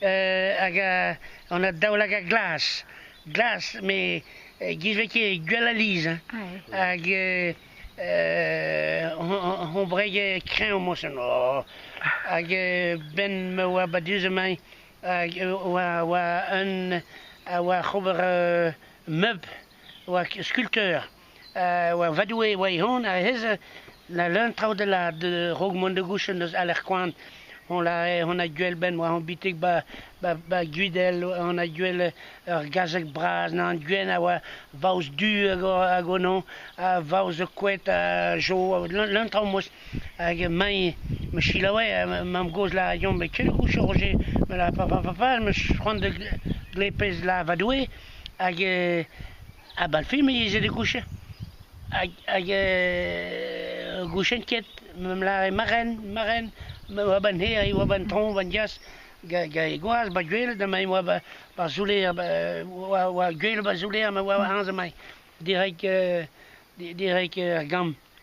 hag on a daoulagad glas. Glas, met giz ket gwell aliz. Hag hon breg kreñv mosin. Hag ben ma oa badus emañ, hag oa un oa ober meub, oa skulpteur. va Doue e oa e-hont, ha ez leun traoù a-raok mont da gouchenn eus alerkoan. On a gouel benn war hon bitig ba Gwidel, on a gouel ur gazeg bras, an gwenn a oa vaouez du hag ono, ha vaouez koed ha jo, leun traoù mos. Hag mañ, ma selaouais mamm-gozh la Yon, met ket gouchañ Roger, ma la pa, pa, pa, pa, ma c'hoant da glepez la va Doue, hag Ha bal film ez eo da gouchet hag hag gouchet ket m'em lâre ma ren ma ren ma oa 'ba 'n hêr e oa 'ba 'n traoñ 'ba 'n diaz gant e gwaz 'ba Gouel ma e oa 'ba Zouller oa oa Gouel 'ba Zouller ma oa aze 'mañ direk direk ar Gambr.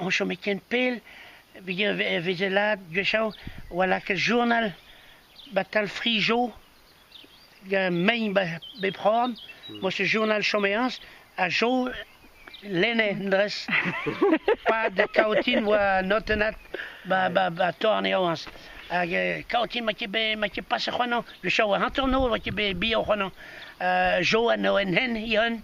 on chome ken pell evit e vizelaat gwechall e oa lakaet journal 'ba Talfrigeau mein 'ba bep c'horn moa ket journal chomeañs ha Jo lenne en dres pad kaotin oa notennat 'ba torneañs hag kaotin ma ket bet ma ket paset c'hoant le show a hanternoz oa ket bet bihan c'hoant Jo a 'no en hent he-hun